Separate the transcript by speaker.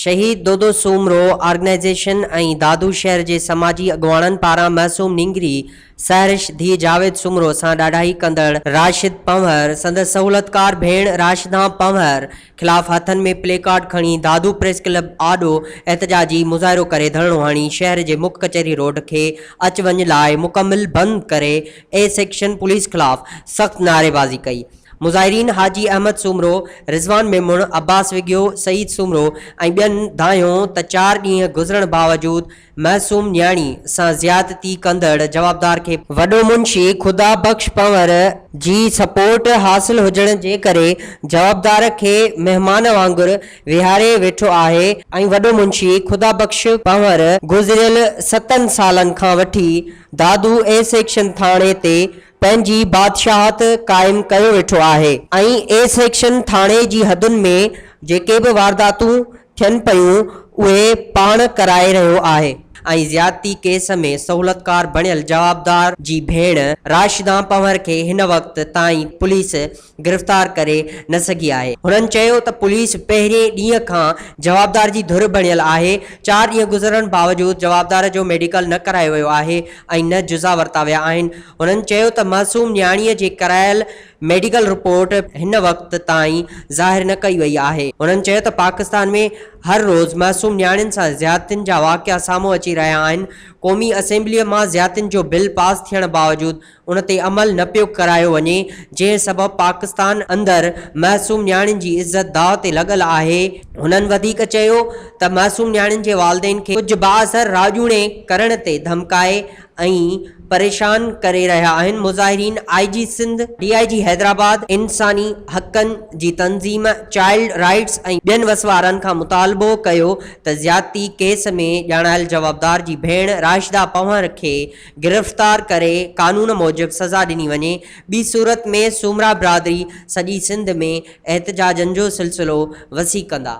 Speaker 1: شهيد دودو سومرو آرگنائيزيشن ۽ دادو شهر جي سماجي اڳواڻن پاران معصوم نينگري سحرش ڌيء جاويد سومرو سان ڏاڍائي ڪندڙ راشد پنهور سندس سهولتڪار ڀيڻ راشدان پنهور خلاف هٿن ۾ پلي ڪارڊ کڻي دادو پريس ڪلب آڏو احتجاجي مظاهرو ڪري ڌرڻو هڻي شهر جي مک ڪچهري روڊ کي اچ وڃ لاء مڪمل بند ڪري اي سيڪشن پوليس خلاف سخت نعريبازي ڪئي. مظاهرين حاجي احمد سومرو، رضوان ميمڻ، عباس وڳيو، سعيد سومرو ۽ ٻين ڌانئيو ته چار ڏينهن گذرڻ باوجود معصوم نياڻي سان زيادتي ڪندڙ جوابدار کي وڏو منشي خدا بخش پنور جي سپورٽ حاصل هجڻ جي ڪري جوابدار کي مهمان وانگر ويهاري ويٺو آهي ۽ وڏو منشي خدا بخش پنور گذريل ستن سالن کان وٺي دادو اي سيڪشن ٿاڻي تي پنهنجي بادشاهت قائم ڪيو ويٺو آهي ۽ اي سيڪشن ٿاڻي جي حدن ۾ جيڪي به وارداتون ٿين پيون اهي پاڻ ڪرائي رهيو آهي. ۽ زيادتي ڪيس ۾ سهولتڪار بڻيل جوابدار جي ڀيڻ راشدان پنهور کي هن وقت تائين پوليس گرفتار ڪري نه سگهي آهي. هنن چيو ته پوليس پهرين ڏينهن کان جوابدار جي ڌر بڻيل آهي، چار ڏينهن گذرڻ باوجود جوابدار جو ميڊيڪل نه ڪرايو ويو آهي ۽ نه جزا ورتا ويا آهن، هنن چيو ته معصوم نياڻيء جي ڪرايل ميڊيڪل رپورٽ هن وقت تائين ظاهر نه ڪئي وئي آهي. هنن چيو ته پاڪستان ۾ هر روز معصوم نياڻين سان زيادتين جا واقعا سامهون اچي رهيا آهن، قومي اسيمبليء مان زيادتين جو بل پاس ٿيڻ باوجود ان تي عمل نه پيو ڪرايو وڃي، جنهن سبب پاڪستان اندر معصوم نياڻين جي عزت داء تي لڳل آهي. هنن وڌيڪ چيو ته معصوم نياڻين جي والدين کي ڪجهه بااثر راڄوڻي ڪرڻ تي ڌمڪائي ۽ پريشان ڪري رهيا آهن، مظاهرين آء جي سنڌ، ڊي آء جي حيدرآباد، انساني حقن جي تنظيم چائلڊ رائيٽس ۽ ٻين وسوارن کان مطالبو ڪيو ته زيادتي ڪيس ۾ ڄاڻايل جوابدار جي ڀيڻ راشده پنهور کي گرفتار ڪري قانون موجب سزا ڏني وڃي، ٻي صورت ۾ سومرا برادري سڄي سنڌ ۾ احتجاجن جو سلسلو وسيع ڪندا.